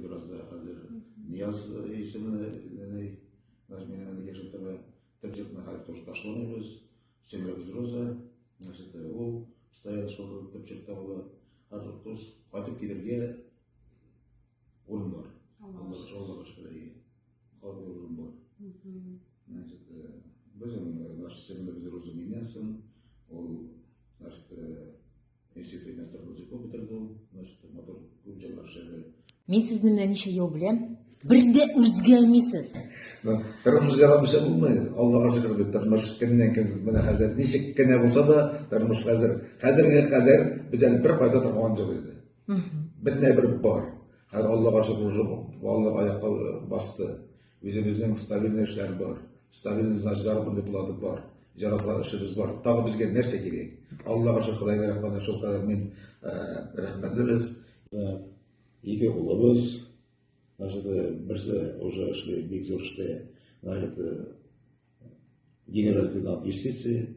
Бераз да хәзер Нияз исеменә нәнәй наш менә менә яшәп тора. Тәбҗикне хәзер тоже ташламыйбыз. Семьябыз Роза. Значит, ул стоял шул тәбҗик табыла. Хәзер туз кайтып килергә урын бар. Аллаһ шуллыгы шикелле. Хәзер урын бар. Значит, безнең наш семьябыз Роза Минясын. Ул наш Мин сезне менә ничә ел беләм, бер дә үзгәрмисез. Тормыш ярамыйча булмый. Аллага шөкер бит, тормыш кемнән кем менә хәзер ничек кенә булса да, тормыш хәзер. Хәзергә кадәр без әле бер кайда торган юк иде. Бер дә бер бар. Хәзер Аллага шөкер, Алла аякка басты. Үзебезнең ставильный эшләр бар. Ставильный значит заработный плата бар. Җараклар эшебез бар. Тагы безгә нәрсә кирәк? Аллага шөкер, Худайга рәхмәтле шул кадәр мин рәхмәтле без. Ике улыбыз, значит, берсе уже эшли бик зур эштә, значит, генерал-лейтенант юстиции,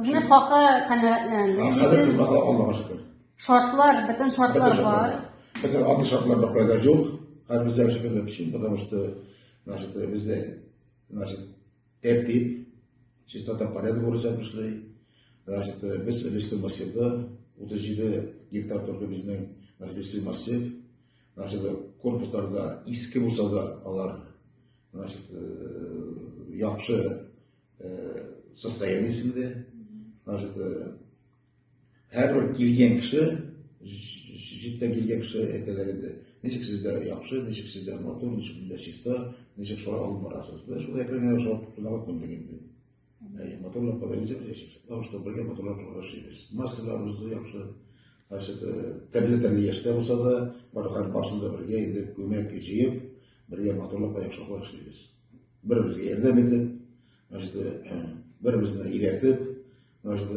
Хезмәт хакы канәгатьләнде. Хәзер хезмәт Аллага шөкер. Шартлар, бөтен шартлар бар. Бөтен аты шартлар да кайда юк. Хәзер бездә шөкер өчен, потому что значит бездә значит тәртип, чистота порядок бурыча эшли. Значит без листый массивда 37 гектар торды безнең листый массив. Значит корпусларда иске булса да алар значит яхшы состояниесендә значит һәрбер килгән кеше җиттә килгән кеше әйтәләр инде ничек сездә яхшы ничек сездә матур ничек бездә чиста ничек шулай алып барасыз да шул әкрен генә шулай шундагы күндек инде матурлап бара ничек яшибез потому что бергә матурлап яшибез массаларыбыз яхшы значит төрле төрле яшьтә булса да барысында бергә инде күмәк җыеп бергә матурлап яхшылап яшибез Беребезгә ярдәм итеп, значит, беребезне өйрәтеп, значит,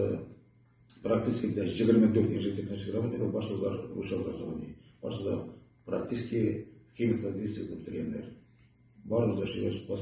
практически дә 24 яшь технический работник барсы да русча образование. Барсы да практически химик логистика бетергәннәр. Барыбыз да шигырь спас